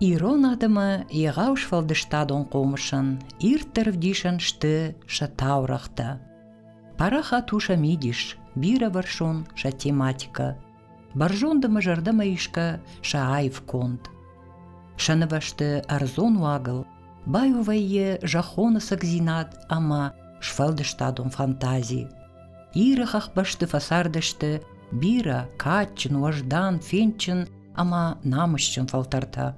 Ирон адӕмы егау сфӕлдыстадон хъомысын ирддӕр ӕвдисӕн сты сӕ таурӕгътӕ. Парахат у сӕ мидис, бирӕвӕрсон сӕ тематикӕ. Бӕрзондымӕ зӕрдӕмӕ исгӕ сӕ аив конд. Сӕ нывӕсты ӕрдзон уагыл баиу вӕййы зӕххоны сӕгдзинад ӕмӕ сфӕлдыстадон фантази. Иры хӕхбӕсты фӕцардысты бирӕ кадджын, уӕздан, фендджын ӕмӕ намысджын фӕлтӕртӕ.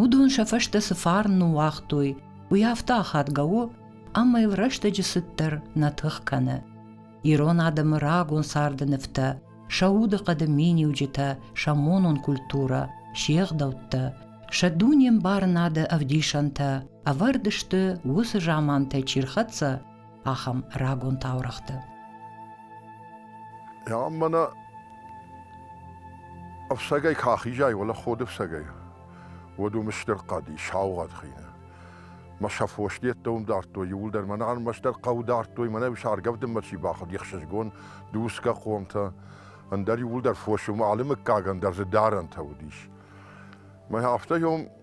Уыдон сӕ фӕстӕ цы фарн ныууагътой, уый афтӕ ахадгӕ у, ӕмӕ йыл рӕстӕджы цыддӕр нӕ тых кӕны. Ирон адӕмы рагон царды нывтӕ, сӕ удыхъӕды миниуджытӕ, сӕ монон культурӕ, се гъдӕуттӕ, сӕ дунембарынады ӕвдисӕнтӕ ӕвӕрд сты уыцы замантӕй чи рхӕццӕ, ахӕм рагон таурӕгъты. Ам мӕнӕ ӕфсӕгӕй ка ахизай, уӕлӕ ходы ӕфсӕгӕй, уӕд уым стыр хъӕди, саугъӕд хийнӕ. Мӕ сӕ фос деттӕ уым дардтой, иууылдӕр мӕнӕ ӕрмӕстдӕр хъӕу дардтой, мӕнӕ саргӕвдынмӕ чи бахуыд, ехсызгон, дусгӕ хъомтӕ, ӕндӕр иууылдӕр фос, уым алы мыггагӕн дӕр дзы дарӕнтӕ уыдис. Мӕ афтӕ ем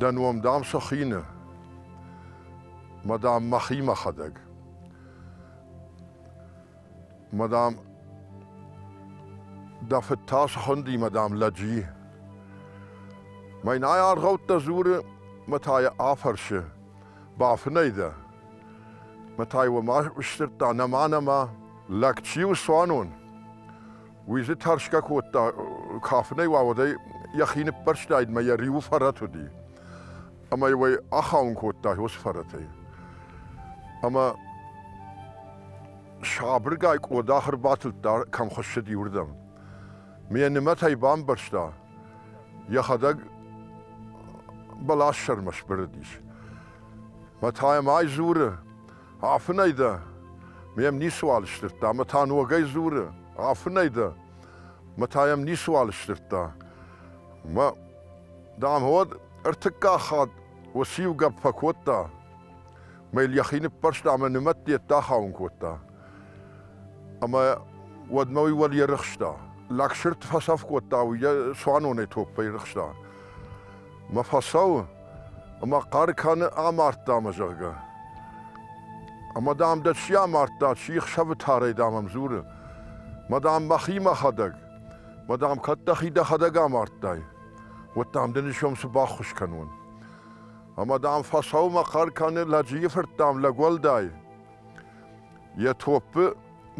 Дӕ ном, дам, сӕхины. Мадам, мӕхи мӕхӕдӕг. Мадам, дӕ фыд та схынди, мадам, лӕджи. Мӕнӕй аргъӕуттӕ дзуры, мӕ та йӕ афӕрсы. Бафынӕй дӕ? Мӕ та йыл ма сдзырдта, нӕма, нӕма, лӕг чи у цуанон? Уый дзы тӕрсгӕ кодта, кафынӕй уа, уӕдӕй йӕхи ныппӕрстаид мӕ йӕ риуы фӕрӕт уыди. Ӕмӕ йыл ӕй ахауын кодта уыцы фӕрӕтӕй. Ӕмӕ сабыргай къодах ӕрбатылдта, кӕм хуыссыди, уырдӕм. Ме нымӕтӕй бамбӕрста, йӕхӕдӕг бӕлас сӕрмӕ сбырыдис. Мӕ та йӕм ай дзуры, Афынӕй дӕ? Ме мницыуал сдзырдта ӕмӕ та ногӕй дзуры, Афынӕй дӕ? Мӕ та йӕм ницыуал сдзырдта. Мӕ, дам, уӕд ӕртыккаг хатт уыцы-иу гӕпп фӕкодта, мӕ йыл йӕхи ныппӕрста ӕмӕ нымӕт дет ахауын кодта. Ӕмӕ уӕдмӕ уый уӕл ерыхста. Лӕгсырд фӕцӕф кодта, уый йӕ цуанонӕй топпӕй рыхста. мӕ фӕцӕуы, ӕмӕ хъӕр кӕны амардта мӕ, зӕгъгӕ. Ӕмӕ, дам, дӕ чи амардта, чи хсӕвы тарӕй, дам, ӕм дзуры. Мӕ, дам, мӕхи мӕхӕдӕг. Мӕ, дам, кӕд дӕхи дӕхӕдӕг амардтай, уӕд, дам, дын исом цы баххуыс кӕнон. Ӕмӕ, дам, фӕцӕуы мӕ хъӕр кӕны лӕджийы фырт, дам, лӕг уӕлдай. Йӕ топпы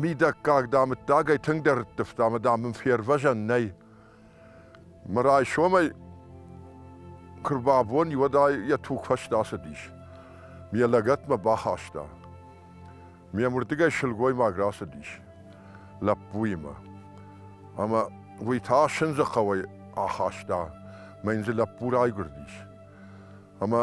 мидӕггаг, дам, ӕддагӕй тынгдӕр рыттывта, ӕмӕ, дам, мын фервӕзӕн нӕй. Мӕ райсомӕй куы рбабон, уӕд ӕй йӕ тугфӕст ацыдис. Ме лӕгӕтмӕ бахаста. Мемырдыгӕй сылгоймаг рацыдис лӕппуимӕ. Ӕмӕ уый та сындзы хъӕуӕй ахаста мӕ йын дзы лӕппу райгуырдис. Ӕмӕ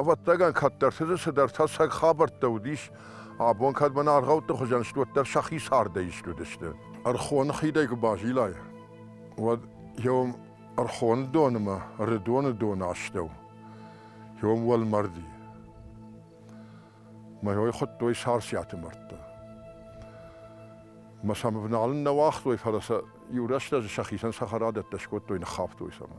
Ӕвӕттагӕн кӕддӕртыты цыдӕр тӕссаг хабӕрттӕ уыдис, абон кӕдмӕ аргъӕутты хуызӕн стуӕттӕ сӕхи цардӕй исты уыдысты. Ӕрхоны хидӕй куы базилай, уӕд еом Ӕрхоны донымӕ Рыдоны доны астӕу еом уӕлмӕрди. Мӕ хуыдтой Сарсиаты мӕрдтӕ. Мӕ сӕм ӕвналын нӕ уагътой, фӕлӕ сӕ иу рӕстӕджы сӕхицӕн цӕхӕрадӕттӕ скодтой, ныххафтой сӕмӕ.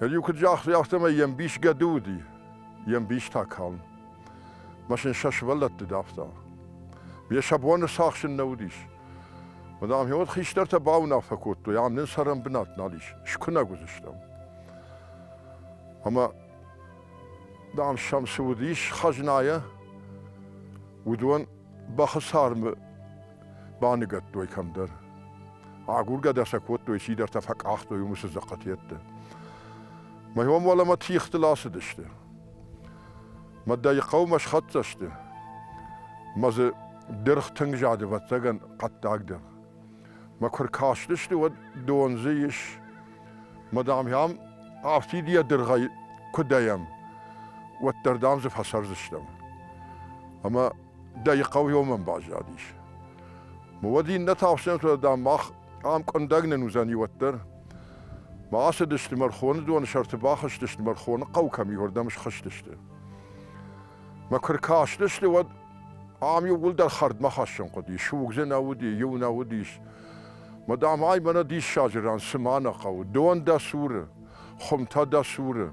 Иу куыд загътой, афтӕмӕй йе мбис гӕды уыди, йе мбис та калм. Машин сӕ сывӕллӕтты давта. Йе сӕ боны цахсын нӕ уыдис. Мадам, ӕмӕ хистӕртӕ бауынаффӕ кодтой, ам нын цӕрӕн бынат нал ис, скуынӕг уыдзыстӕм. Ӕмӕ, дам, сӕм цы уыдис хӕзнайӕ, уыдон бӕхы цармы Баныгӕдтой кӕмдӕр. Агургӕ дӕ сӕ кодтой, сидӕртӕ фӕкъахтой уымысы дзыхъхъыт йедты. Мӕ ом уӕлӕмӕ тихтыл ацыдысты. Мӕ дӕйы хъӕумӕ схӕццӕ сты. Мӕ дзы дыргъ тынг зады вӕццӕгӕн хъӕддаг дыргъ. Мӕ куы ркастысты, уӕд дон дзы ис. Мӕ дам йӕм афтид йӕ дыргъӕй куы дӕйӕм, уӕддӕр дам дзы фӕцӕрдзыстӕм. Ӕмӕ дӕ хъӕуйомӕн баззадис. Уӕд иннӕ тахсӕнтӕ, дам, мах ам къуындӕг нын уыдзӕни уӕддӕр. Бацыдысты Мӕрхоны доны сӕрты, бахызтысты Мӕрхоны хъӕу кӕм иуырдӕм схызтысты. Мӕ куы ркастысты, уӕд ам иууылдӕр хӕрдмӕ хӕссын хъуыди. Суг дзы нӕ уыди, иу нӕ уыдис. Мадам, ай мӕнӕ диссаджы ран, цыма нӕ хъӕуы. Дон дӕ цуры, хуымтӕ дӕ цуры.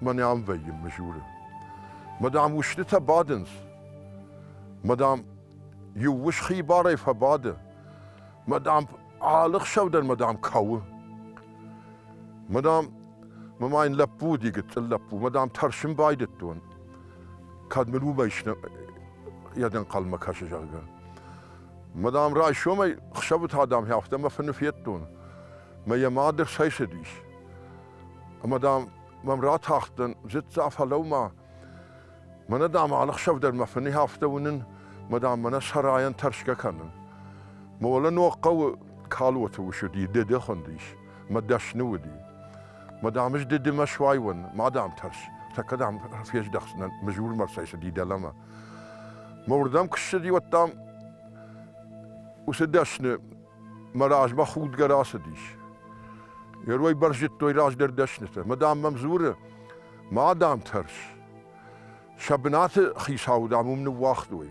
мӕ нӕм вӕййын, мызуры. Мадам, устытӕ бадынц. Мадам, иу ус хибарӕй фӕбады. Мадам, алы хсӕв дӕр мадам кӕуы. Мадам, мӕ ын лӕппу уыди, гыццыл лӕппу. Мадам, тӕрсын байдыдтон, кӕд мын уымӕй сны йӕ дӕнхъӕлмӕ кӕсы, зӕгъгӕ. Мадам, райсомӕй хсӕвы та дам афтӕ мӕ фыны федтон. Мӕ йӕ мады цӕйцыдис. Мадам, Мӕм ратахтӕн, зыдта, фӕлӕу-ма. Мӕнӕ, дам, алыхсӕвдӕр мӕ фыни афтӕ уынын, ма, дам, мӕнӕ сарайӕн тӕрсгӕ кӕнын. Молы ног хъӕуы калоты ус уыди, дӕде хуындис, мӕ дӕсны уыди. Ма, дам, ӕз дӕдемӕ суайон, ма, дам, тӕрс, тӕккӕ, дам, фездӕхдзынӕн, мызурмӕ цӕйцыди дӕлӕмӕ. Мӕ уырдӕм куы ссыди, уӕд, дам, уыцы дӕсны мӕ размӕ худгӕ рацыдис. Йе рой бӕрзыдтой раздӕр дӕснытӕ. Мадам мӕм дзуры, мадам тӕрс, сӕ бынаты хицауы, дам, уым ныууагътой.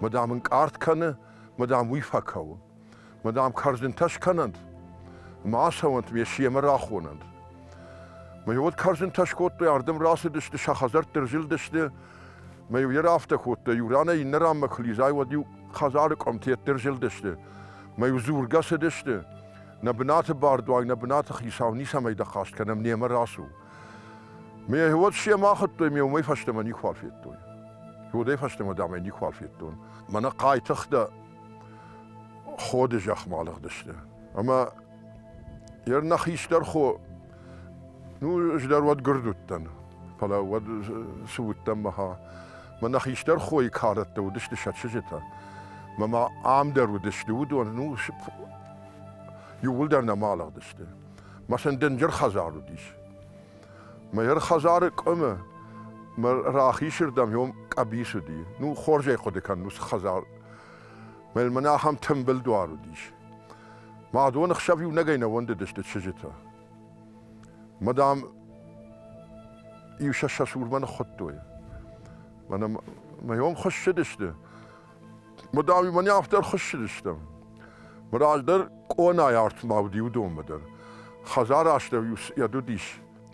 Мадам ын къард кӕны, мадам уый фӕкӕуы. Мадам кӕрдзынтӕ скӕнӕнт, ма ацӕуӕнт ме семӕ рахонӕнт. Мӕ уӕд кӕрдзынтӕ скодтой, ардӕм рацыдысты, сӕ хӕдзӕртты рзылдысты, Мӕ-иу йӕ рафтӕ кодта, иу ранӕй иннӕ ранмӕ куы лизай, уӕд-иу хӕдзары къуымты ӕддӕр зылдысты. Мӕ-иу дзургӕ цыдысты. Нӕ бынаты бардуаг, нӕ бынаты хицау ницӕмӕй дӕххӕст кӕнӕм, немӕ рацу. Ме уӕд семӕ ахуыдтой, ме уымӕй фӕстӕмӕ никуал федтой. Уӕдӕй фӕстӕмӕ, дам, ӕй никуал федтон. Мӕнӕ хъайтыхтӕ ходы зӕхмӕ алыгъдысты. Ӕмӕ Ер нӕ хистӕр хо, ну, ӕз дӕр уӕд гырд уыдтӕн, фӕлӕ уӕд цы уыдтӕн мӕхӕ. Мӕнӕ хистӕр хойы кӕрӕттӕ уыдысты сӕ чызджытӕ. Мӕмӕ ам дӕр уыдысты уыдон, ну, иууылдӕр нӕма алыгъдысты. Мӕ сын дынджыр хӕдзар уыдис. Мӕ йӕр хӕдзары къуымы мӕ рахисырдӕм йом къӕбис уыди. Ну, хорзӕй хъуыды кӕн, ну, цы хӕдзар. Мӕ мӕнӕ ахӕм тымбыл дуар уыдис. Мӕ доны хсӕв иунӕгӕй нӕ уӕндыдысты чызджытӕ. Мӕ дам, иу сӕ сӕ сурмӕ ныххуыдтой. Мӕнӕ мӕ йом хуыссыдысты. Мӕ дам, мӕн афтӕ ӕрхуыссыдыстӕм. Мӕ раздӕр къонайы артмӕ уыд иу донмӕ дӕр. Хӕдзары астӕу иу йӕд уыдис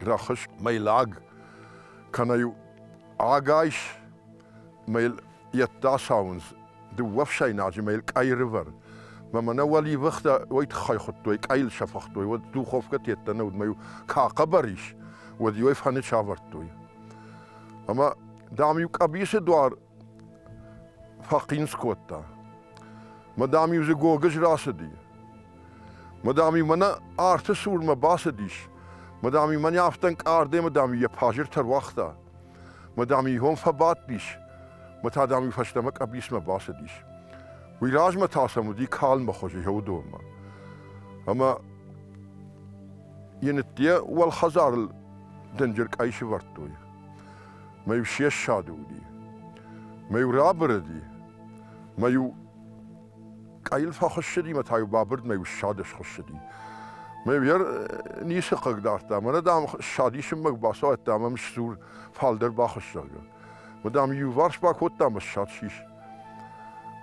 рӕхыс мӕй лӕг, кӕнӕ иу агайс, мӕ йыл йеддӕ сауындз дыууӕ фсӕйнаджы мӕ йыл къӕйрывӕр. Мӕ мӕнӕ уӕливӕхтӕ уой тыххӕй хуыдтой, къӕйыл сӕфыгътой, уӕд духовкӕ теттӕ нӕ уыд, мӕ иу ка хъӕбӕр ис, уӕд иуӕй фӕны сӕвӕрдтой. Ӕмӕ, дам-иу къӕбисы дуар фӕхъинц кодта. Мӕ дам-иу дзы гогыз рацыди. Мӕ дам-иу мӕнӕ арты цурмӕ бацыдис. Мӕ дам-иу мӕнӕ афтӕ ӕнкъардӕй, мӕ дам-иу йӕ пажир тӕруагъта. Ма дам ихон фӕбадтис, ма та дам уый фӕстӕмӕ къӕбицмӕ бацыдис. Уый размӕ та сӕм уыди калмы хуызы Еудонмӕ. Ӕмӕ Енытте уӕлхӕдзарыл дынджыр къӕй сывӕрдтой. Мӕ-иу се ссады уыди. Мӕ-иу рабырыди. Мӕ-иу Къӕйыл фӕхуыссыди мӕ та-иу бабырдмӕ ссады схуыссыди. Мӕ йӕ ницы хъыг дардта. Мӕнӕ, дам, ссадисынмӕ бацауӕдта ӕмӕ сдзур фалдӕр бахуысс, зӕгъгӕ. Мӕ, дам, иуварс бакодта мӕ ссад сис.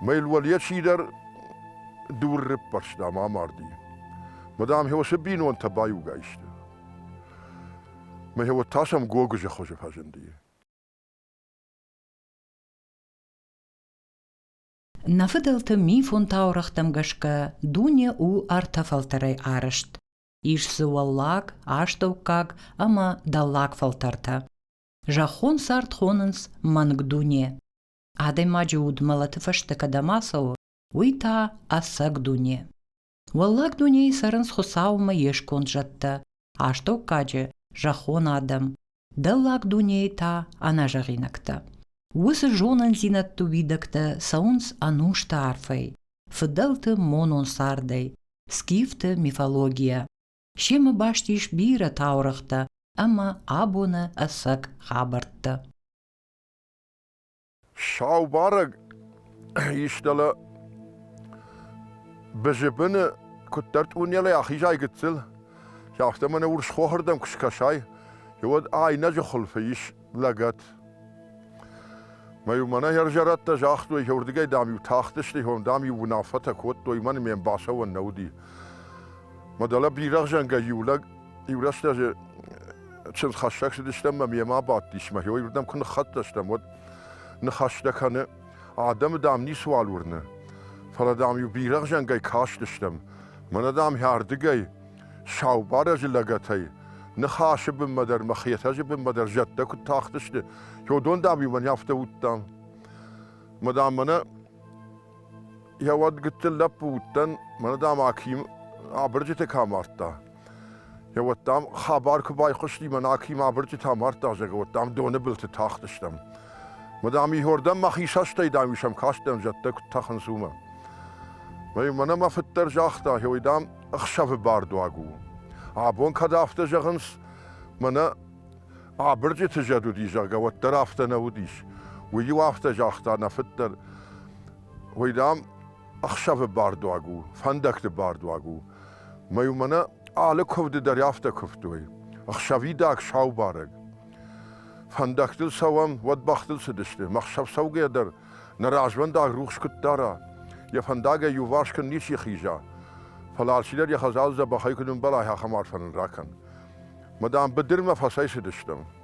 Мӕ йыл уӕле чидӕр дур рыппӕрста мӕ амарди. Мӕ, дам, уыцы бинонтӕ баиугай сты. Мӕ уӕд та сӕм гогызы хуызы фӕзынди. Нӕ фыдӕлты мифон таурӕгътӕм гӕсгӕ дуне у ӕртӕ фӕлтӕрӕй арӕзт. ис дзы уӕллаг, астӕуккаг ӕмӕ дӕллаг фӕлтӕртӕ. Зӕххон цард хонынц мӕнг дуне. Адӕймаджы уд мӕлӕты фӕстӕ кӕдӕм ацӕуы, уый та ӕцӕг дуне. Уӕллаг дунейы цӕрынц Хуыцаумӕ йе сконд зӕдтӕ, астӕуккаджы зӕххон адӕм, дӕллаг дунейы та ӕнӕзӕгъинӕгтӕ. Уыцы зонындзинӕдты уидӕгтӕ цӕуынц ӕнусты арфӕй, фыдӕлты монон цардӕй, скифты мифологийӕ. Семӕ баст ис бирӕ таурӕгътӕ ӕмӕ абоны ӕцӕг хабӕрттӕ. Сау барӕг истӕлӕ Бызыбыны куыддӕр тъунелӕй ахизай гыццыл, афтӕ мӕнӕ урсхохырдӕм куы скӕсай, уӕд айнӕджы хуылфы ис лӕгӕт. Мӕ-иу мӕнӕ хӕрзӕрӕттӕ загътой, уырдыгӕй, дам-иу тахтысты, ом, дам-иу уынаффӕтӕ кодтой, мӕн ме мбасӕуӕн нӕ уыди. Мӕ дӕлӕ бирӕгъзӕнгӕ иу лӕг Иу рӕстӕджы чындзхӕссӕг цыдыстӕм мӕм йемӕ бадтис мӕ уырдӕм куы ныххӕццӕ стӕм, уӕд ныхӕстӕ кӕны, адӕмы дам ницыуал уырны, фӕлӕ дам-иу бирӕгъзӕнгӕй кастыстӕм, мӕнӕ дам хӕрдыгӕй, сау барӕджы лӕгӕтӕй, ныхасы бынмӕ дӕр мӕ хетӕджы бынмӕ дӕр зӕдтӕ куыд тахтысты, уыдон дам-иу мӕн афтӕ уыдтам. Мӕ дам мӕнӕ йӕ уӕд гыццыл лӕппу уыдтӕн, мӕнӕ дам Аким абырджыты кӕм ардта. Йӕ уӕд, дам, хабар куы байхъуысти, мӕн акимӕ абырджытӕ амардта, зӕгъгӕ, уӕд, дам, доны былты тахтыстӕм. Мы, дам, Игьордӕн мӕхи сӕстӕй, дам, исӕм кастӕн, зӕдтӕ куыд тӕхынц, уымӕ. Мӕн ӕмӕ фыддӕр загъта, ой, дам, ӕхсӕвы бардуаг у. Абон кӕд афтӕ зӕгъынц, мӕнӕ абырджыты зӕд уыди, зӕгъгӕ, уӕддӕр афтӕ нӕ уыдис. Уый-иу афтӕ загъта нӕ фыддӕр, ой, дам, ӕхсӕвы бардуаг у, фӕндӕгты бардуаг у. Мӕ уымӕн алы куывды дӕр афтӕ куывтой. Ӕхсӕвидаг сау барӕг. Фӕндӕгтыл цӕуӕм, уӕд бӕхтыл цыдысты. Мӕ ӕхсӕв цӕугӕ дӕр нӕ развӕндаг рухс куыд дара. Йӕ фӕндагӕй иуварс куыд ничи хиза. Фӕлӕ алчидӕр йӕ хӕдзалы дзӕбӕхӕй куыд ӕмбӕлай, ахӕм арфӕ нын ракӕн. Мадам, быдырмӕ фӕцӕйцыдыстӕм.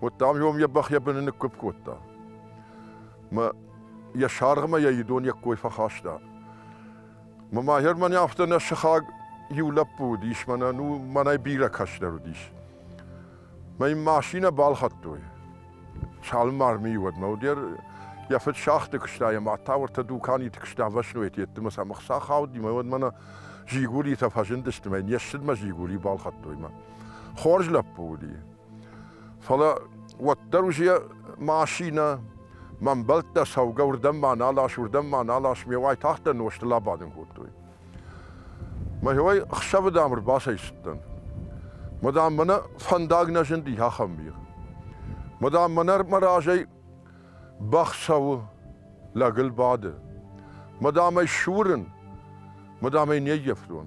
уӕдта ем е бӕх йӕ быны ныккуыпп кодта. Мӕ йӕ саргъмӕ йӕ идон йӕ кой фӕхаста. Мӕ махер мӕн афтӕ нӕ сыхаг иу лӕппу уыдис, мӕнӕ ну мӕнӕй бирӕ кӕсдӕр уыдис. Мӕ машинӕ балхӕдтой. Цалынмӕ армийы уӕдмӕ уыдер йӕ фыд сӕхты куыста йӕ мад та уыртӕ дуканиты куыста ӕвӕсноет йеддӕмӕ сӕ мыхца хауди мӕ уӕдмӕ нӕ жигуритӕ фӕзындысты мӕ не ссыдмӕ жигури балхӕдтой мӕ хорз лӕппу уыди Фӕлӕ уӕддӕр уж йӕ машинӕ, мӕ мбӕлттӕ цӕугӕ уырдӕм ма нал ас, уырдӕм ма нал ас, ме уайтагъддӕр нозтыл абадын кодтой. Мӕхиуӕй ӕхсӕвыдӕм ӕрбацӕйцыдтӕн. Мадам, мӕнӕ фӕндаг нӕ зынди ахӕм мир. Мадам, мӕнӕ мӕ разӕй бӕх цӕуы, лӕгыл бады. Мадам ӕй сурын, мадам ӕй не ййӕфтон.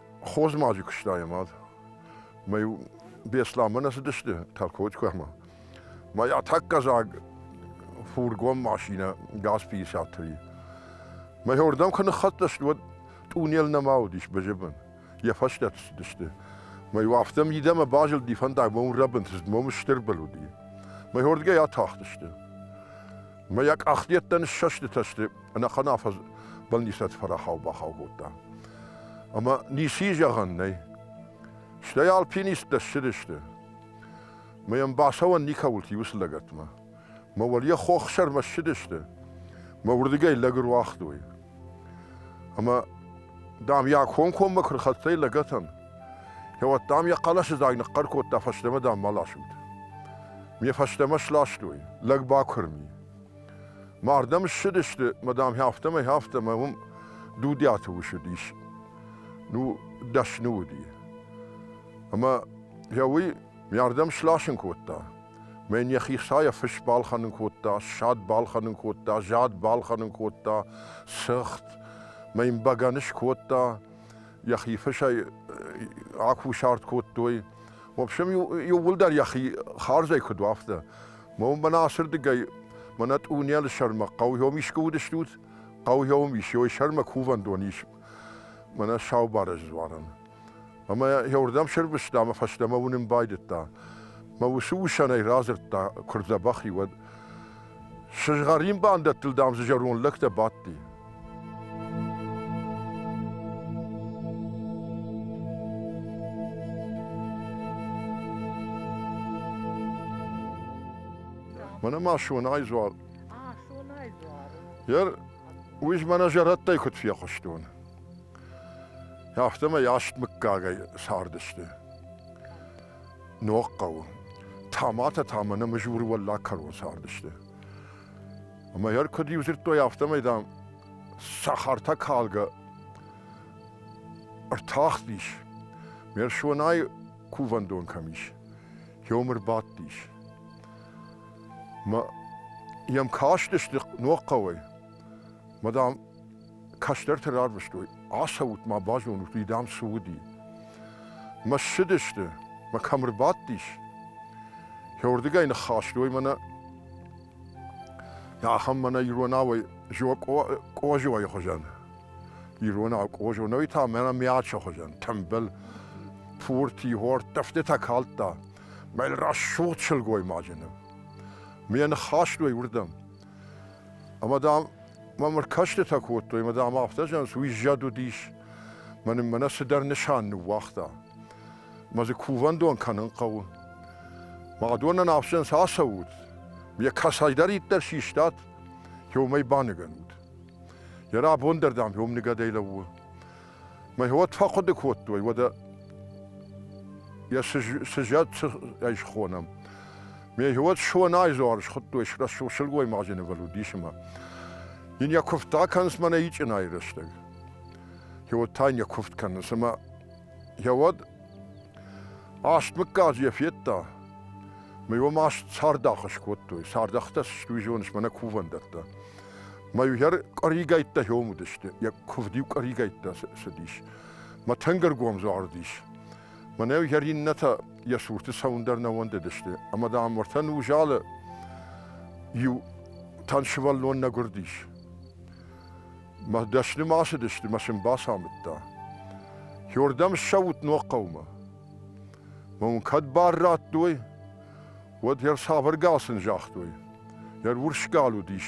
хорз ма куыста йӕ мад. Мӕй Беслӕнмӕ нӕ цыдысты Тарковикмӕ. Мӕ атаккӕзаг фургон машинӕ ГАЗ-53. Мӕ уырдӕм куы ныххӕццӕ сты, уӕд тъунел нӕма уыдис Бэжебын. Йӕ фӕстӕ цыдысты. Мӕ афтӕ мидӕмӕ базылди фӕндагмӕ уын рӕбынты, цыд мӕм стыр был уыди. Мӕ уырдгӕй атахтысты. Мӕ йӕ къахдӕттӕн ссӕстытӕ сты, ӕнӕхъӕн афӕдз бӕлнисӕт фӕрахау-бахау кодта. Ӕмӕ ници зӕгъӕн нӕй. Стӕй альпинисттӕ ссыдысты. Мӕ йӕм бацӕуӕн никӕуыл и уыцы лӕгӕтмӕ. Мӕ уӕле хох сӕрмӕ ссыдысты. Мӕ уырдыгӕй лӕг ӕруагътой. Ӕма, дам, йӕ комкоммӕ куы рхӕццӕ и лӕгӕтӕн, кӕуӕд, дам, йӕ хъӕлӕсыдзаг ныхъхъӕр кодта фӕстӕмӕ, дам, ма ласут. Ме фӕстӕмӕ сластой, лӕг бакуырми. Мардӕм ссыдысты, мадам, афтӕмӕй, афтӕмӕй уым Дудиаты ус уыдис. Ну, дӕсны уыди. Ӕмӕ йӕ уый мардӕм сласын кодта. Мӕн йӕхи хсайӕ фыс балхӕнын кодта, ссад балхӕнын кодта, зад балхӕнын кодта, сыгъд, мӕ йын бӕгӕны скодта, йӕхи фысӕй акусарт кодтой. В общем, иууылдӕр йӕхи хардзӕй куыд у, афтӕ. Мӕнӕ ацырдыгӕй, мӕнӕ тъунелы сӕрмӕ хъӕуйом искуы уыдыстут? Хъӕуйом ис, ёй сӕрмӕ кувӕндон ис. Мӕнӕ сау барӕджы дзуарӕн. Ӕмӕ йӕ уырдӕм сӕрвыста ӕмӕ фӕстӕмӕ уынын байдыдта. Мӕ уыцы усӕнӕй радзырдта, куы рдзӕбӕх и, уӕд. Сызгъӕрин бандӕттыл, дам, дзы зӕронд лӕгтӕ бадти. Мӕнӕ ма сонай дзуар. А, сонай дзуар. Йер, уый мӕнӕ зӕрӕдтӕй куыд фехъуыстон. Афтӕмӕй асг мыггагӕй цардысты. Ног хъӕуы. Таматӕ та мӕнӕ мызуры уӕллаг кӕрон цардысты. Ӕмӕ йӕр куыд иу дзырдтой, афтӕмӕй, дам, сахартӕ калгӕ ӕртахтис, ме рсонӕй кувӕндон кӕм ис, йӕм ӕрбадтис. Мӕ йӕм кастысты ног хъӕуӕй, мӕ дам, кӕстӕрты равдыстой, ацӕут-ма, базонут уый, дам, цы уыди. Мӕ ссыдысты, мӕ кӕм ӕрбадтис. Кӕуырдыгӕй ныххастой мӕнӕ ахӕм мӕнӕ иронауӕй Къозойы хуызӕн. Иронау Къозонӕй та мӕнӕ мячы хуызӕн тымбыл, пурти, хортӕфтытӕ калдта. Мӕ рӕсугъд сылгоймаджы ныв. Ме ныххастой уырдӕм. Ӕмӕ, дам, мӕм ӕркӕстытӕ кодтой, ӕмӕ, дам, афтӕ зӕгъынц, уый зӕд уыдис, мӕн мӕнӕ цыдӕр нысан ныууагъта. Мӕ дзы кувӕндон кӕнын хъӕуы. Мӕ адонӕн афсӕнс ацӕут, йӕ кӕцӕйдӕриддӕр систат, йе уымӕй баныгӕнут. Йӕ рабон дӕр, дам, йе омныгадӕй лӕууы. Мӕ уӕд фӕхъуыды кодтой, уӕдӕ йӕ сызӕт ӕй схонӕм. Ме уӕд сонайзуар схуыдтой рӕсугъд сылгоймаджы нывыл уыдис ӕмӕ йын йӕ куывдтӕ кӕнынц мӕнӕ ичъынайы рӕстӕг. Йӕ та йын йӕ куывд кӕнынц ӕмӕ йӕ уӕд аст мыггаг йӕ федта. Мӕ уӕм аст цардах скодтой, цардӕхтӕ сты, уый зоныс, мӕнӕ кувӕндӕттӕ. Мӕ иугӕр къӕригӕйттӕ хьом уыдысты, йӕ куывд-иу къӕригӕйттӕ цыдис. Мӕ тӕнгӕргом загъдис. Мӕнӕ иугӕр иннӕтӕ йӕ цурты цӕуын дӕр нӕ уӕндыдысты, ӕмӕ, дам, уӕртӕ нузӕлы иу тӕн сывӕллон нӕ гуырдис. Мӕ дӕсны ма цыдысты, мӕ сын бацамыдта. Хьордӕм ссӕут ног хъӕумӕ. Мӕ уын кӕд бар радтой, уӕд йӕ цавӕр гал сын загътой. Йӕ урс гал уыдис,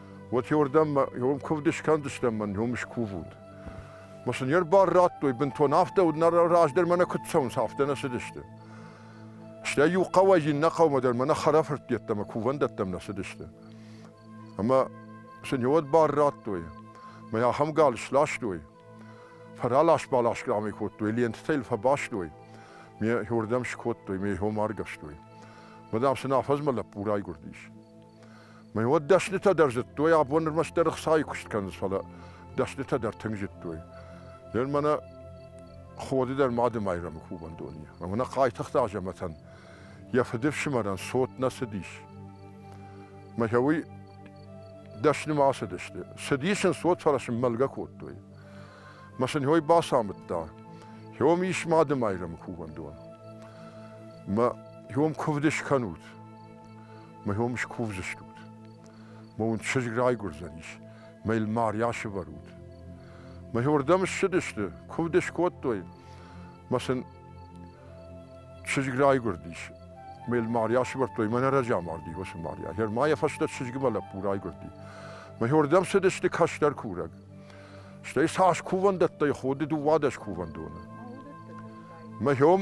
уотеуордӕм мӕ ем кувд искӕндзыстӕм, мӕн ем искувуд. Ма сын йе рбар радтой бынтон афтӕ, уыд раздӕр мӕнӕ куыд цӕуынц, афтӕ нӕ цыдысты. Стӕй иу хъӕуӕй иннӕ хъӕумӕ дӕр мӕнӕ хӕрӕфырттӕттӕ мӕ кувӕндӕттӕм нӕ цыдысты. Ӕмӕ сын иу ӕд бар радтой, мӕ ахӕм гал сластой, фӕралас-балас къамӕй кодтой, лентытӕ йыл фӕбастой, ме иуырдӕм скодтой, ме иу маргӕстой. Мадам сын афӕдзмӕ лӕппу райгуырдис. Мӕ уӕд дӕснытӕ дӕр зыдтой, абон нырмӕ стыр ӕхцайы куыст кӕнынц, фӕлӕ дӕснытӕ дӕр тынг зыдтой. Ден мӕнӕ ходы дӕр мады майрӕмы кувӕндон и. Ӕмӕ нӕ Хъайтыхъты Азӕмӕтӕн йӕ фыдыфсымӕрӕн цот нӕ цыдис. Мӕ уый дӕснымӕ ацыдысты. Цыдис ын цот, фӕлӕ сын мӕлгӕ кодтой. Мӕ сын уый бацамыдта. Хьом ис мады майрӕмы кувӕндон. Мӕ хьом куывды скӕнут. Мӕ ном скувдзыстут. Мӕ уын чызг райгуырдзӕнис. Мӕ йыл ма рясывӕрут. Мӕхордӕм ссыдысты, куывд скодтой. Мӕ сын чызг райгуырдис. Мӕ йыл ма рясывӕрдтой. Мӕ нӕ разамарди уыцы Мария. Гӕр ма йӕ фӕстӕ чызгмӕ лӕппу райгуырди. Мӕхордӕм цыдысты кӕстӕр курӕг. Стӕй цас кувӕндӕттӕй ходы дыууадӕс кувӕндоны. Мӕ ном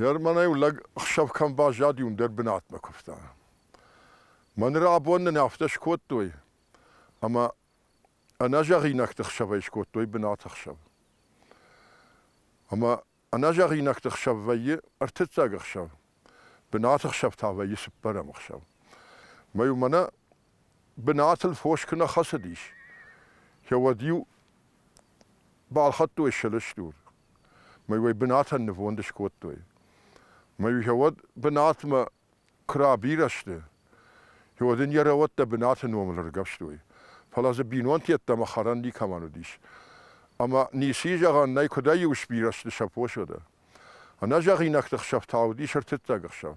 Германӕй лӕг ӕхсӕв кӕм баззади, уым дӕр бынатмӕ куывта. Мӕнӕ абон нын афтӕ скодтой, ӕмӕ ӕнӕзӕгъинӕгты хсӕвӕй скодтой бынаты хсӕв. Ӕмӕ ӕнӕзӕгъинӕгты хсӕв вӕййы ӕртыццаг ӕхсӕв, бынаты хсӕв та вӕййы цыппӕрӕм ӕхсӕв. Мӕй уымӕ нӕ бынатыл фос куы нӕ хӕцыдис, уӕд-иу балхӕдтой сылыстур. Мӕй-уӕй бынатӕн нывонд скодтой. Мӕй-иу уӕд бынатмӕ куы рабирӕ сты, уӕд ын йӕ рӕуӕттӕ бынаты номыл ӕргӕвстой. Фӕлӕ дзы бинонты йеддӕмӕ хӕрӕн никӕмӕн уыдис. Ӕмӕ ници зӕгъӕн нӕй, куыдӕй-иу сбирӕ сты сӕ посодӕ. Ӕнӕзӕгъинӕгты хсӕв та уыдис ӕртыццаг ӕхсӕв.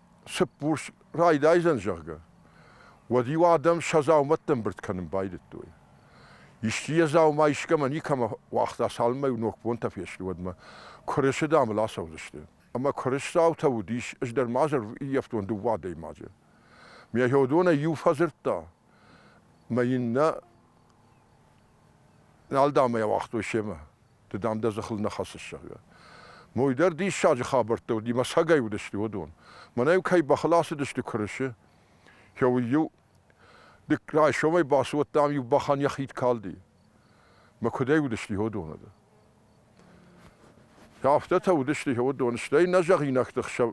цыппурс райдайдзӕн, зӕгъгӕ, уӕд-иу адӕм сӕ дзаумӕттӕ ӕмбырд кӕнын байдыдтой. Исчи йӕ дзаума искӕмӕ никӕмӕ уагъта, цалынмӕ-иу ногбонтӕ фесты, уӕдмӕ куырысы дамыл ацӕудзысты. Ӕмӕ куырысдзаутӕ уыдис, ӕз дӕр ма дзы ӕрӕвййӕфтон дыууӕ адӕймаджы. Мегафедонӕй иу фӕдзырдта, мӕ иннӕ нал дамӕ ауагътой семӕ. Ды, дам, дӕ зӕххыл нӕ хӕцыс, зӕгъгӕ. Мой дӕр диссаджы хабӕрттӕ уыди, мӕ сагӕй уыдысты уыдон. Мӕнӕ-иу кӕй бӕхыл ацыдысты куырысы, кӕуыл-иу дык райсомӕй бацыуӕдта, ам-иу бӕхӕн йӕ хид калди. Мӕ куыдӕй уыдысты уыдон ӕдӕ. Афтӕтӕ уыдысты уыдон, стӕй нӕ зӕгъинӕгты хсӕв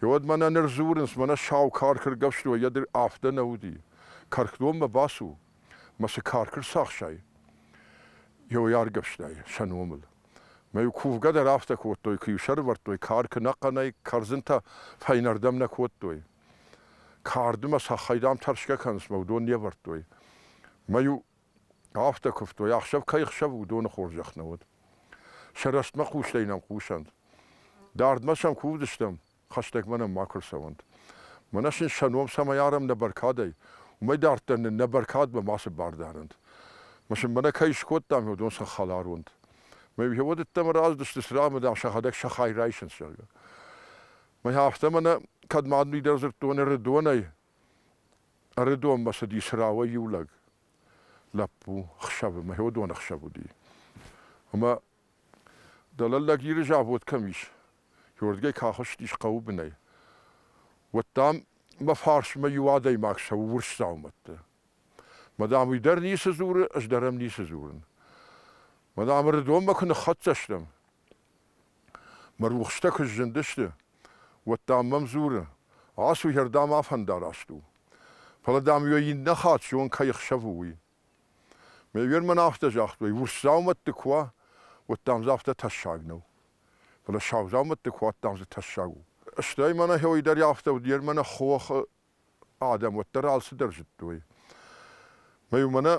уӕд мӕнӕ ныр дзурынц, мӕнӕ сау карк ӕргӕвстой, йӕ дыр афтӕ нӕ уыди. Каркдонмӕ бацу. мӕсы кар куы рцахсай йӕ аргӕвстӕй сӕ номыл. Мӕ кувгӕ дӕр афтӕ кодтой, куы-иу сӕрывӕрдтой кар, куы нӕ хъӕнӕй кӕрдзынтӕ фӕйнӕрдӕм нӕ кодтой. Карды мӕ сахӕй дам тӕрсгӕ кӕнынц мӕ уыдон не вӕрдтой. Мӕ-иу афтӕ куывтой, ӕхсӕв кӕй хсӕв уыдоны хорзӕх нӕ уыд. Сӕ рӕстмӕ хъустӕй нӕм хъусӕнт. Дардмӕ сӕм кувдыстӕм, хӕстӕг мӕнӕн макуы рцӕуӕнт. Мӕнӕ сын сӕ ном цӕмӕй арӕм нӕ бӕркадӕй, уымӕй дарддӕр нын нӕ бӕркадмӕ мацы бар дарӕнт. Мӕ сын мӕнӕ кӕй скодтам, уыдон сӕ хӕлар уӕнт. Мӕ иугъуыд ӕддӕмӕ раздысты, цыран мӕ, дам, сӕхӕдӕг сӕ хай райсынц, зӕгъгӕ. Мӕ афтӕ мӕнӕ, кӕд ма мидӕр дзырдтон Ӕрыдонӕй, Ӕрыдонмӕ цыди цырауӕй иу лӕг, лӕппу, хсӕвы, мӕхи уыдон ӕхсӕв уыди. Ӕмӕ Дӕлӕлдӕг Иры завод кӕм ис, уырдыгӕй кахуыстис хъӕуы бынӕй. Уӕд, дам, мӕ фарсмӕ иу адӕймаг цӕуы урс дзаумӕтты. Мадам, уый дӕр ницы дзуры, ӕз дӕр ӕм ницы дзурын. Мадам, Рыдонмӕ куы ныххӕццӕ стӕм. Мӕ рухстӕ куы сзындысты, уӕд, дам, мӕм дзуры, ацу, йӕ рдӕм афӕндараст у. Фӕлӕ, дам, уӕ иннӕ хатт зон, кӕй ӕхсӕв у, уый. Ме вирмӕн афтӕ загътой, урс дзаумӕтты куы уа, уӕд, дам, дзы афтӕ тӕссаг нӕу. Фӕлӕ сау дзаумӕтты куы уат, дам, дзы тӕссаг у. Стӕй мӕнӕ хойы дӕр афтӕ уыд, йе мӕнӕ хохы адӕм уӕддӕр алцыдӕр зыдтой. Мӕ-иу мӕнӕ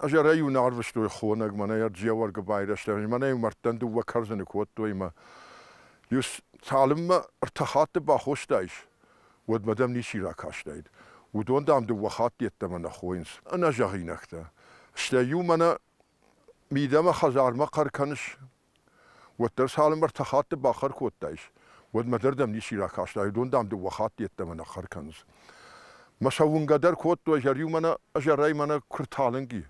азӕрӕй-иу нӕ арвыстой хонӕг, мӕнӕ йӕ Джеуӕргы байрӕзтӕ, мӕнӕ-иу мӕрдтӕн дыууӕ кӕрдзыны куы уӕдтой мӕ. Иу цалынмӕ ӕртӕ хатты бахостаис, уӕдмӕ дӕм ничи ракастаид. Уыдон, дам, дыууӕ хатт йеддӕмӕ нӕ хойынц ӕнӕзӕгъинӕгтӕ. Стӕй-иу мӕнӕ мидӕмӕ хӕдзармӕ хъӕр кӕныс, уӕддӕр цалынмӕ ӕртӕ хатты бахъӕр кодтаис, уӕдмӕ дӕр дӕм ничи ракастаид, уыдон, дам, дыууӕ хатты йеддӕмӕ нӕ хъӕр кӕнынц. Мӕ сӕ уынгӕ дӕр кодтой, зӕр-иу мӕнӕ, ӕзӕрӕй мӕнӕ куы рталынг и,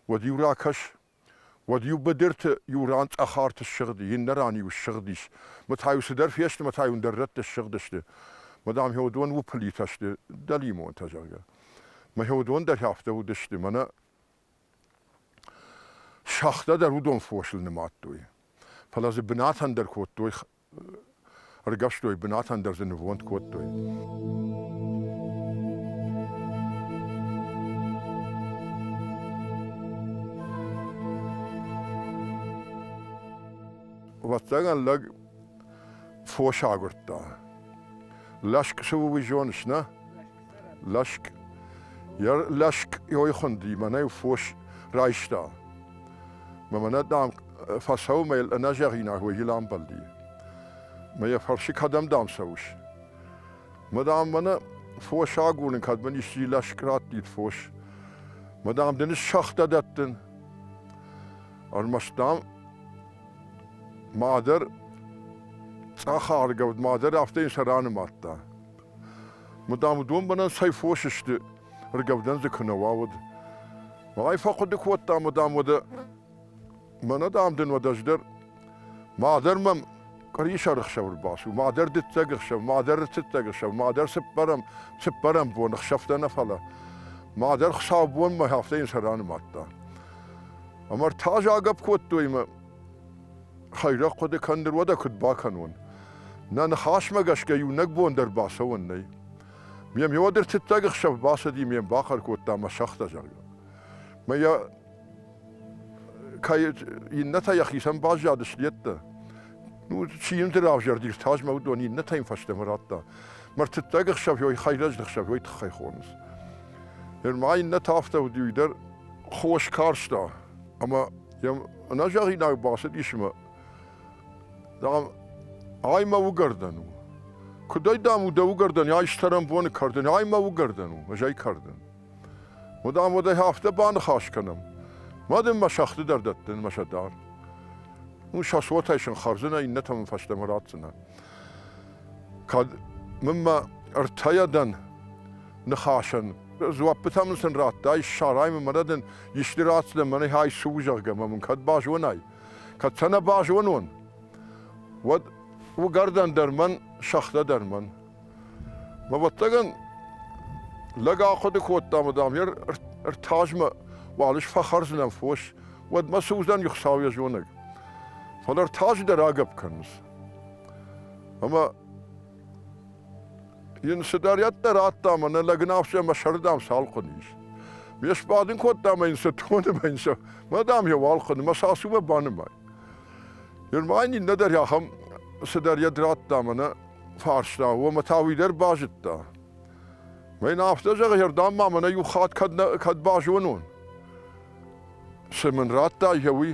уӕд-иу ракӕс, Уӕд-иу быдырты иу ран цъӕхарт ссыгъди, иннӕ ран-иу ссыгъдис. Мӕ та-иу цыдӕр фесты, мӕ та-иу ӕндӕр рӕтты ссыгъдысты. Мадам Хеодон уыпылитӕ сты, дӕлимонтӕ, зӕгъгӕ. Мӕ Хеодон дӕр афтӕ уыдысты, мӕнӕ сӕгътӕ дӕр уыдон фосыл нымадтой. Фӕлӕ дзы бынат ӕндӕр кодтой ӕргӕвстой, бынатӕн дӕр дзы нывонд кодтой. Вӕццӕгӕн лӕг фос агуырдта. Лӕск цы у, уый зоныс, нӕ? Лӕшк йӕ лӕшкъйой хуынди, мӕнӕ фос райста. Мӕ мӕнӕ, дам, фӕцӕуы мӕ йыл ӕнӕзӕгъинаг уый йыл амбӕлди. Мӕ йӕ фӕрсы, кӕдӕм, дам, цӕуыс? Мӕ, дам, мӕнӕ фос агурын, кӕд мын исчи лӕшк раттид фос. Мӕ, дам, дын ссӕгътӕ дӕттын. Ӕрмӕст, дам, мадӕр цъӕх аргӕвд, мадӕр афтӕ йын сӕ ранымадта. Мыдам уыдон бынӕн цӕй фос сты, ргӕвдӕн дзы куы нӕ уа, уӕд. Мӕй фӕхъуыды кодта мыдам уӕдӕ, мӕнӕ дам дын уӕд ӕз дӕр, мадӕр мӕм къуырисӕр ӕхсӕв ӕрбацу, мадӕр дыццӕг ӕхсӕв, мадӕр ртыццӕг ӕхсӕв, мадӕр цыппӕрӕм, цыппӕрӕм бон ӕхсӕвтӕ нӕ фӕлӕ. Мадӕр хуыцаубонмӕ афтӕ йын сӕ ранымадта. Ӕмӕ та загӕпп кодтой мӕ, Хӕйрӕг хъуыды кӕндыр уӕдӕ куыд бакӕнон? Нӕ ныхасмӕ гӕсгӕ иунӕг бон дӕр бацӕуӕн нӕй. Ме миодыр тыттаг ӕхсӕв бацыди, ме бахъӕр кодта мӕ сагъта, зӕгъгӕ. Мӕ йӕ кӕй иннӕтӕ йӕхицӕн баззады слеттӕ. Ну, чи йын равзӕрди ртазмӕ, уыдон иннӕтӕ йын фӕстӕмӕ радта. Мӕ ртыттаг ӕхсӕвьой хӕйрӕджы ӕхсӕвьой тыххӕй хонынц. Ныр ма иннӕтӕ афтӕ уыди, уый дӕр хос карста, ӕмӕ Йӕм ӕнӕзӕгъинаг бацыдис мӕ, зӕгъӕм, ай мӕ уыгӕрдӕн у. Куыд ӕй, дам, у дӕ уыгӕрдӕн, ай стӕрӕн боны кӕрдӕн, ай мӕ уыгӕрдӕн у, ӕз ӕй кӕрдӕн. Мадам, уӕд ӕй афтӕ баныхас кӕнӕм. Ма дын мӕ сӕгъты дӕр дӕттын, мӕ сӕ дар. Уый сӕ цотӕй сын хӕрдзынӕ, иннӕтӕ мын фӕстӕмӕ ратдзынӕ. кӕд мын мӕ ӕртӕйӕ дӕн ныхасӕн. Дзуаппытӕ мын сын радтай, ссарай мын мӕнӕ дын исты радтдӕ мӕнӕй хай цы у, зӕгъгӕ, мӕ мын кӕд базонай. Кӕд сӕ нӕ базонон, уӕд уыгӕрдӕн дӕр мӕн, сӕгътӕ дӕр мӕн. Мӕ вӕттагӕн лӕг ахъуыды кодта, ӕмӕ дам йӕ ӕртазмӕ уал ис фӕхӕрдзынӕн фос, уӕд мӕ цы уыдзӕн, Хуыцау йӕ зонӕг. Фӕлӕ ӕртаджы дӕр агӕпп кӕнынц. Ӕмӕ йын цыдӕрӕддӕр радта ӕмӕ нӕ лӕгнауфсӕ мӕ сӕрдӕм цалхъуын ис. Ме сбадын кодта ӕмӕ йын цы тоны мӕ йын сӕ мӕ дам йӕ уӕлхъуын мӕ сасумӕ банымай. Германи нӕдӕр ахӕм цыдӕр йӕд радта ӕмӕ нӕ фарста, омӕ та уый дӕр базыдта. Мӕ йын афтӕ зӕгъы, ердам ма мӕнӕ иу хатт кӕд, нӕ, кӕд базонон. Цы мын радтай йӕ уый?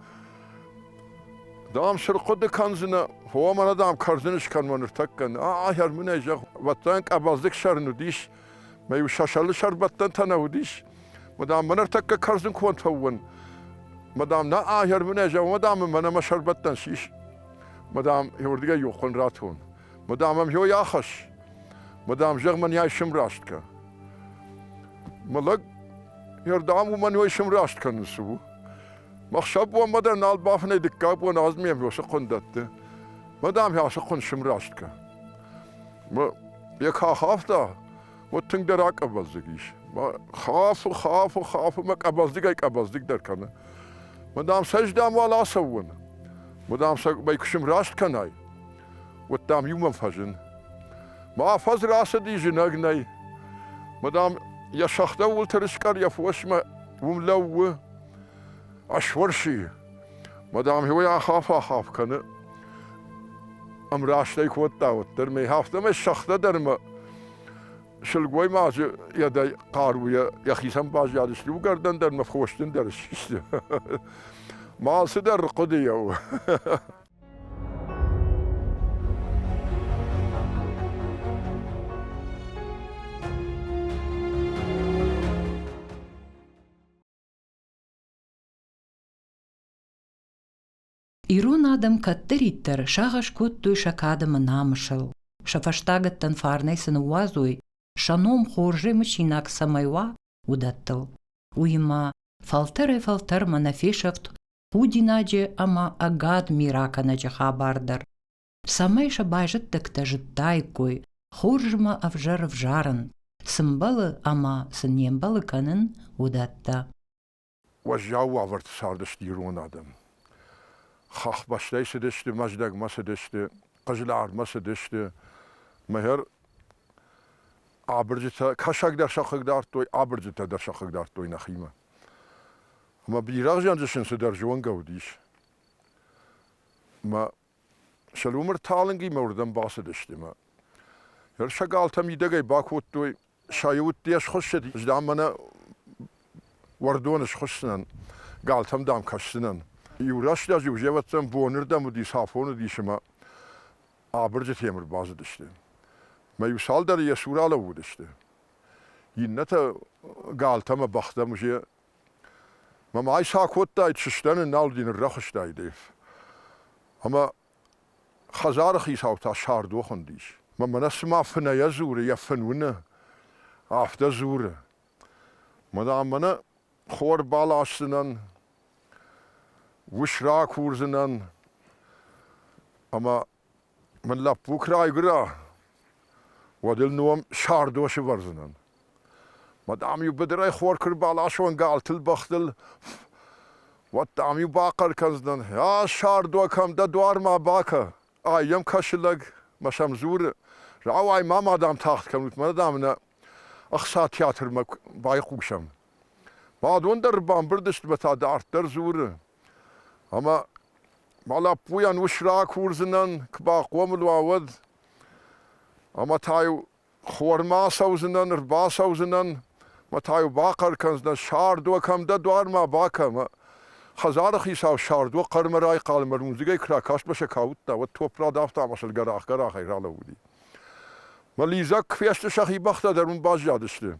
Дам, сыр хъуыды кӕндзынӕ, о, мӕнӕ дам кӕрдзын скӕнмӕ ныртӕккӕ. Ахӕр мын ӕй зӕгъ. Вӕттайӕн къабӕздыг сӕрын уыдис, мӕ иу сӕсӕлы сӕрбӕттӕнтӕ нӕ уыдис. Мадам, мӕ ныртӕккӕ кӕрдзын контӕ уын. Мадам, нӕ ахӕр мын ӕй зӕгъ, мадам, мӕнӕ мӕ сӕрбӕттӕн сис. Мадам, иуырдыгӕй иу хъуын ратон. Мадам, ам хёй ахӕсс. Мадам, зӕгъ мӕн йӕ сымраст кӕ. Мӕ лӕг ердам уымӕн йой сымраст кӕныс у. Махсӕ бон мадӕ нал бафынӕй дыккаг бон аз ме мёсы хъуын дӕтты. Мадам, хӕсы хъуын сымраст кӕ. Мӕ йӕ кӕ хафта, уӕд тынгдӕр акъабӕздзыг ис. Мӕ хафы, хафы, хафы, мӕ къабӕздыгӕй къабӕздыгдӕр кӕны. Мадам, сӕ здам уал ацӕуон. Мадам, сӕ мӕй куы сымраст кӕнай, уыд, дам, иумӕ фӕзын. Мӕ афӕдз рацыди зынӕг нӕй. Мадам, йӕ сӕгътӕ уылты рыскъӕр йӕ фосмӕ уым лӕууы. Асуырси. Мадам иуӕй ахаф-ахаф кӕны. Ӕмраст ӕй кодта уӕддӕр, мӕй афтӕмӕй сӕгътӕ дӕр мӕ сылгоймаджы йедӕй хъаруйӕ йӕхицӕн баззадысты, уыгӕрдӕн дӕр мӕ фосджын дӕр систы. Мал цыдӕр хъуыды у. Ирон адӕм кӕддӕриддӕр сагъӕс кодтой сӕ кадӕмы намысыл. Сӕ фӕстагӕттӕн фарнӕй цы ныууадзой, сӕ ном хорзӕй мысинаг цӕмӕй уа, уыдӕттыл. Уыимӕ фӕлтӕрӕй-фӕлтӕрмӕ нӕ фесӕфт худинаджы ӕмӕ ӕгад миракӕнӕджы хабар дӕр, цӕмӕй сӕ байзӕддӕгтӕ зыдтаиккой, хорзмӕ ӕвзӕр ӕвзарын, цы мбӕлы ӕмӕ цы не мбӕлы кӕнын, уыдӕттӕ. Уӕззау уавӕрты цардысты ирон адӕм. Хӕхбӕстӕй цыдысты, Мӕздӕгмӕ цыдысты, Хъызлармӕ цыдысты, мыхер абырджытӕ, кӕсаг дӕр сӕ хъыг дардтой, абырджытӕ дӕр сӕ хъыг дардтой нӕхимӕ. Ӕмӕ бирӕгъ зианджы сын цыдӕр зонгӕ уыдис. Мӕ сӕлумӕр талынгимӕ уырдӕм бацыдысты мӕ ӕрсӕгалтӕ мидӕгӕй бакодтой, сӕ удтӕ схуыссыд, здам мӕнӕ уӕрдоны схуысдзынӕн, галтӕм дам кӕсдзынӕн. Иу рӕстӕг-иу зӕвӕттӕн бонырдӕм уыдис, афон уыдис ӕмӕ абырджытӕм ӕрбацыдысты. Мӕ иу цалдӕры йӕ цур алӕууыдысты. Иннӕтӕ галтӕмӕ бӕхтӕ мже. Мӕ ма айса кодтаид, сыстӕн, нал дин ныррӕхыстаид. Ӕмӕ хӕдзары хицау та сӕрдох уындис. Мӕ мӕнӕ цыма фынӕйӕ дзуры, йӕ фын уыны, афтӕ дзуры. Мадам, мӕнӕ хор баласдзынӕн, ус ракурдзынӕн, ӕмӕ Мӕн лӕппу куы райгуыра, уӕд ыл ном Сардо сывӕрдзынӕн. Ма дам-иу быдырӕй хор куы рбаласон галтыл, бӕхтыл, уӕд дам-иу бахъӕр кӕндзынӕн: «А, Сардо, кӕм дӕ дуармӕ бакӕ! Ай йӕм кӕсы лӕг, мӕ сӕм дзуры. Рауай ма ма дам тагъд кӕнут, мӕнӕ дам нӕ ӕхца театрмӕ байхъусӕм». Бадон дӕр бамбырд сты мӕ та дарддӕр дзуры: Ӕмӕ мӕ лӕппуйӕн ус ракурдзынӕн, куы бахъомыл уа, уӕд. Ӕмӕ та-иу хормӕ ацӕудзынӕн, ӕрбацӕудзынӕн, мӕ та-иу бахъӕр кӕндзынӕн, Сардо, кӕм дӕ дуармӕ бакӕ, мӕ хӕдзары хицау Сардо хъӕрмӕ райхъал мӕ рудзыгӕй куы ракастмӕ сӕ кауыдта, уӕд топ радавта ӕмӕ сыл гӕрах-гӕрахӕй ралӕууыди. Мӕ лидзӕг куы фесты, сӕхи бӕхтӕ дӕр уым баззадысты.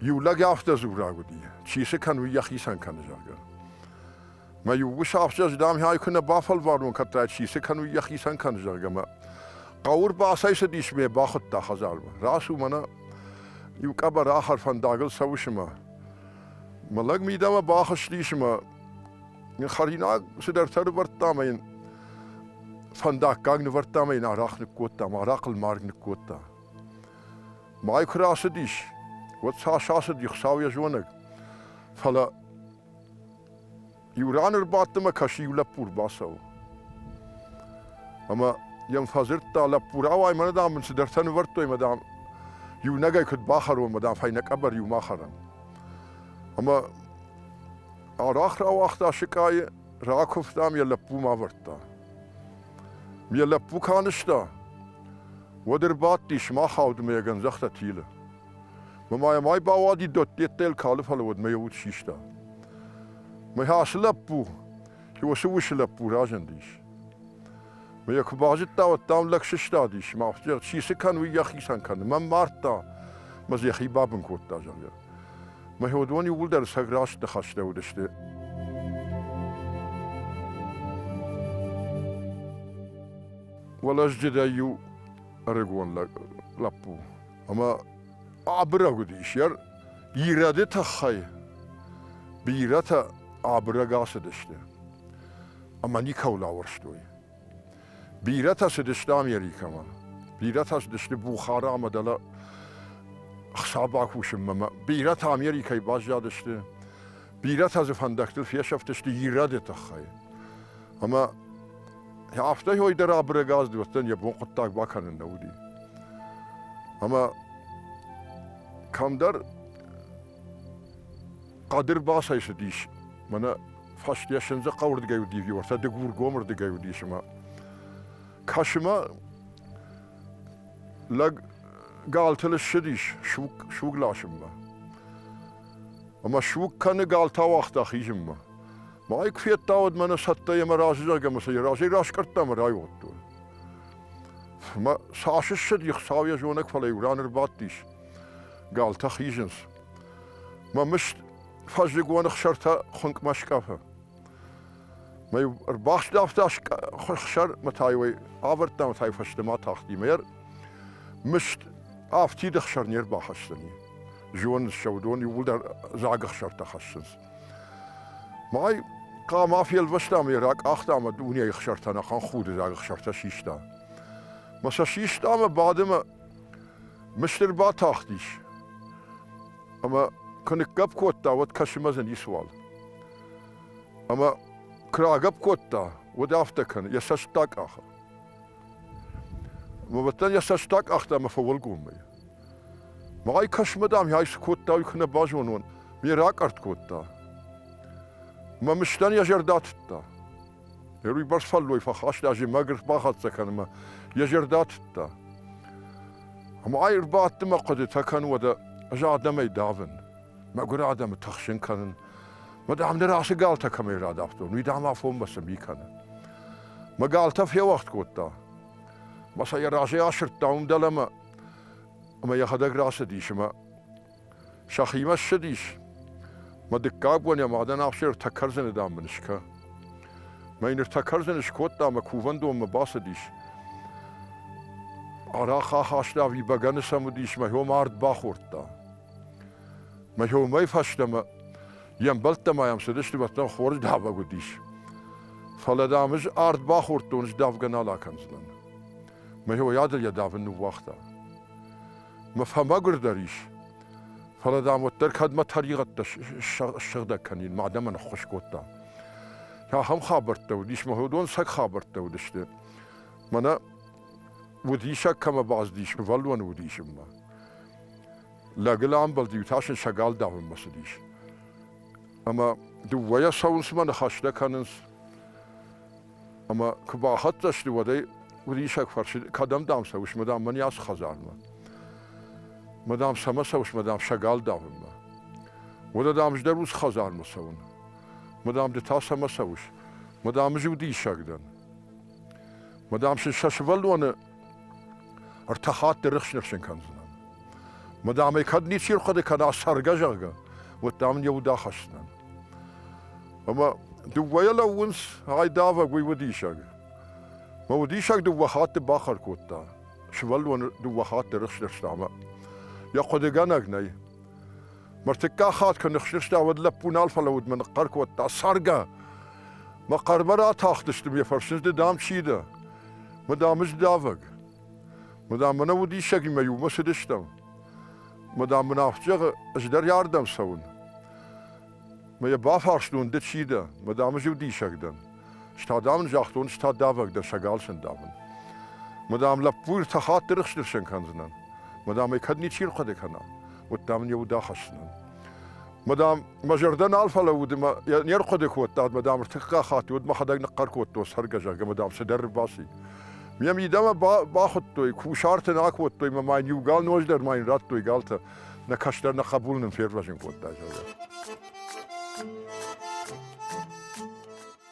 Иу лӕг афтӕ дзураг уыди, чи цы кӕн, уый йӕхицӕн кӕны, зӕгъгӕ. Мӕ иу ус афтӕ, дам-хай куы нӕ бафӕлварон кӕддӕр, чи цы кӕн, уый йӕхицӕн кӕны, зӕгъгӕ. Мӕ хъӕуы рбацӕйцыдис ме, бахуыдта хӕдзармӕ. Рацу мӕнӕ иу къӕбӕр ахӕр фӕндагыл цӕуы сымӕ. Мӕ лӕг мидӕмӕ бахызтис ӕмӕ йын хӕринаг цыдӕртӕ нывӕрдта ӕмӕ йын фӕндаггаг нывӕрдта ӕмӕ йын арахъ ныккодта, арахъ ӕлмарг ныккодта. Мӕй куы рацыдис, уӕд цас ацыди Хуыцау йӕ зонӕг. Фӕлӕ иу ран ӕрбадты мӕ кӕсы иу лӕппу рбацӕуы. Ӕмӕ йӕм фӕдзырдта лӕппу, рауай, мӕнӕ дам мын цыдӕртӕ нывӕрдтой, мӕ дам, иунӕгӕй куыд бахӕрон, мӕ дам, фӕйнӕ къӕбӕр иу ма хӕрӕм. Ӕмӕ арӕх рауагъта сыкъайы, ракуывтам, йӕ лӕппу ма ӕвӕрдта. Ме лӕппу куы анызта, уӕд ӕрбадтис мах аудмӕгӕн, загъта Тилы. Мӕ йӕ май бауади Додтеттӕйыл калы, фӕлӕ уӕдмӕ йӕ уд систа. Мӕ ацы лӕппу, уыцы усы лӕппу разындис. Мӕ йӕ куы базыдта, уӕд дам лӕг сыстадис, мӕ чи цы кӕн, уый йӕхицӕн кӕны. Мӕм мардта, мӕ йӕхи бабын кодта, зӕгъгӕ. Мӕ уыдон иууылдӕр сӕ раст ныхӕстӕ уыдысты. Уӕлӕзджыдӕй иу ӕрыгон лӕг, лӕппу, ӕмӕ абырӕг уыдис йӕ ирӕды тыххӕй. Бирӕтӕ абырӕг ацыдысты ӕмӕ никӕуыл ауӕрстой. Бирӕтӕ цыдысты Америкӕмӕ. Бирӕтӕ цыдысты Бухары ӕмӕ дӕлӕ хсар бакусынмӕ. Бирӕтӕ Америкӕйы баззадысты. Бирӕтӕ дзы фӕндӕгтыл фесӕфтысты ирӕды тыххӕй. Ӕмӕ афтӕ дӕр абырӕг аз уӕддӕн йӕ бон хъуыддаг бакӕнын нӕ уыди. Ӕмӕ кӕмдӕр Хъӕдыр басайсыдис, мӕнӕ фӕстиӕссӕндзӕ хъӕуырдыгӕй уыди, уӕртӕ дыгургомырдыгӕй уыдис ӕмӕ кӕсымӕ лӕг галты лыссыдис суг, суг ласынмӕ. Ӕмӕ суг кӕны галты ауагъта хизынмӕ. Мӕ куы федта, уӕд мӕнӕ цӕттӕ йемӕ разы зӕгъгӕ, мӕ сӕ разӕй раскъӕрдта мӕ райодтой. Мӕ цас ссыди, Хуыцау йӕ зонӕг, фӕлӕ иу ран ӕрбадтис. Галтӕ хизынц. Мӕ мыст фӕззыгон ӕхсӕртӕ хуынкъмӕ скъӕфы. Мӕ ӕрбахстӕфта хсӕр мӕ та йой авӕрдта мӕ та фӕстӕмӕ тахти мӕ йӕр мыст афтид ӕхсӕр не рбахӕсдзӕни. Зон ссӕудон иууылдӕр дзаг ӕхсӕртӕ хӕссынц. Май хъама фелвӕста мӕ ракъахта мӕ дунейы ӕхсӕртӕн ахӕм худы дзаг ӕхсӕртӕ систа. Мӕ сӕ систа мӕ бады мӕ Мыстыр батахтис. Ӕмӕ куы ныггӕпп кодта, уӕд кӕсымӕ дзы ницыуал. Ӕмӕ куы рагӕпп кодта, уӕд афтӕ кӕны, йӕ цӕст акъахы. Мывӕттӕн йӕ цӕст акъахта ӕмӕ фӕуӕлгоммӕ. Мӕй кӕсмӕ, дам, ӕй цы кодта, уый куы нӕ базонон, ме ракъӕртт кодта. Мӕ мыстӕн йӕ зӕрдӕ тыдта. уый басфӕлдой фӕхаста зимӕг ӕрбахӕццӕ кӕнынмӕ йӕ зӕрдӕ тыдта. Ӕмӕ ай ӕрбадты мӕ хъуыдытӕ кӕн уӕдӕ ӕз адӕмӕй давын, мӕгуыр адӕмы тыхсын кӕнын. Мӕ дам ныр ацы галтӕ кӕмӕй радавтон, уый дам афонмӕ цы ми кӕны. Мӕ галтӕ феуӕгъд кодта. Мӕ сӕ йӕ разӕй асырдта уым дӕлӕмӕ, ӕмӕ йӕхӕдӕг рацыдис ӕмӕ сӕхимӕ ссыдис. Мӕ дыккаг бон йӕ мадӕн ахсӕр ӕртӕ кӕрдзыны, дам, мын скӕ. Мӕ йын ӕртӕ кӕрдзыны скодта мӕ кувӕндонмӕ бацыдис. Арахъ ахаста ӕви бӕгӕны сӕм уыдис, мӕхиом ард бахордта. Мӕхиомӕй фӕстӕмӕ йе мбӕлттӕ ма йӕм цыдысты, уӕддӕр хорз давӕг уыдис. Фӕлӕ, дам, ӕз ард бахордтон, ӕз давгӕ нал акӕндзынӕн. Мӕхиойадыл йӕ давын ныууагъта. мӕ фӕмӕгуырдӕр ис. Фӕлӕ, дам, уӕддӕр кӕдмӕ тӕригъӕдтӕ ссыгъдӕг кӕнин, мӕ адӕмӕн ӕххуыс кодта. Ахӕм хабӕрттӕ уыдис, мӕ уыдон сӕг хабӕрттӕ уыдысты. Мӕнӕ удисӕг кӕмӕ бӕззыдис, сывӕллоны удисынмӕ. Лӕгыл амбӕлд-иу та сын сӕ гал давынмӕ цыдис. Ӕмӕ дыууӕйӕ цӕуынц мӕ ныхӕстӕ кӕнынц. ӕмӕ куы бахӕццӕ сты, уӕд ӕй уыриссаг фӕрсы, кӕдӕм дӕм цӕуыс, мадам, мӕн ацы хӕдзармӕ? Мадам, цӕмӕ цӕуыс, мадам, сӕ гал давынмӕ? Уӕдӕ, дам, ӕз дӕр уыцы хӕдзармӕ цӕуын. Мадам, ды та цӕмӕ цӕуыс? Мадам, ӕз уы диссаг дӕн. Мадам, сын сӕ сывӕллоны Ӕртӕ хатты рыхсын-рыхсын кӕндзынӕн. Мадам ӕй кӕд ничи рхъуыды кӕна цӕргӕ, зӕгъгӕ, уӕд дам не уд ахӕсдзынӕн. Ӕмӕ дыууӕйӕ лӕууынц, айдавӕг уый удисӕг. Мӕ удисӕг дыууӕ хатты бахъӕр кодта. Сывӕллоны дыууӕ хатты рыхст-рыхста ӕмӕ йӕ хъуыдыгӕнӕг нӕй. Мыртыккаг хатт куы ныхсыста, уӕд лӕппу нал фӕлӕуд мӕ ныхъхъӕр кодта: «Цӕргӕ! Мӕ хъӕрмӕ ратахтысты, ме фӕрсынц ды дам чи дӕ? Мадам, здавӕг. Мадам, мӕнӕ удисӕгимӕ иумӕ цыдыстӕм. Мадам, мын афтӕ зӕгъы, ӕз дӕр иардӕм цӕуын. Мӕ йӕ бафарстон, ды чи дӕ? Мадам, ӕз иу диссаг дӕн. Стӕ, дам, ын загътон, стӕ давӕг дӕ сӕ гал сӕндавын. Мадам, лӕппу ӕртӕ хатты рыхснырсӕн кӕндзынӕн. Мадам, ӕй кӕд ничи рхъуыды кӕна, уӕд дам ын йӕ уд ахӕсдзынӕн. Мадам, мӕ зӕрдӕ нал фӕлӕууыд ӕмӕ не рхъуыды кодтад, мадам, ӕртыккаг хатт уӕд мӕхӕдӕг ныхъхъӕр кодтон цӕргӕ, зӕгъгӕ, мадам, цыдӕр баци. Ме мидӕмӕ бахуыдтой, кусарты нӕ акодтой мӕ ма йын иу гал ноз дӕр ма йын радтой галтӕ. Нӕ кӕстӕр нӕ хъӕбул нын фервӕзын кодта, зӕгъгӕ.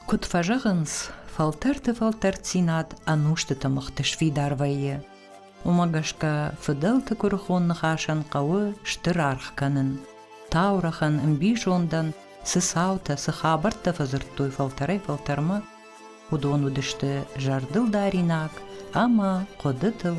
Куыд фӕзӕгъынц, фӕлтӕрты фӕлтӕрддзинад ӕнустыты мыхты сфидар вӕййы. Уымӕ гӕсгӕ фыдӕлты куырыхон ныхасӕн хъӕуы стыр аргъ кӕнын. Таурӕхъӕн, ӕмбизондӕн цы цаутӕ, цы хабӕрттӕ фӕдзырдтой фӕлтӕрӕй-фӕлтӕрмӕ, уыдон уыдысты зӕрдылдаринаг ӕмӕ хъуыдытыл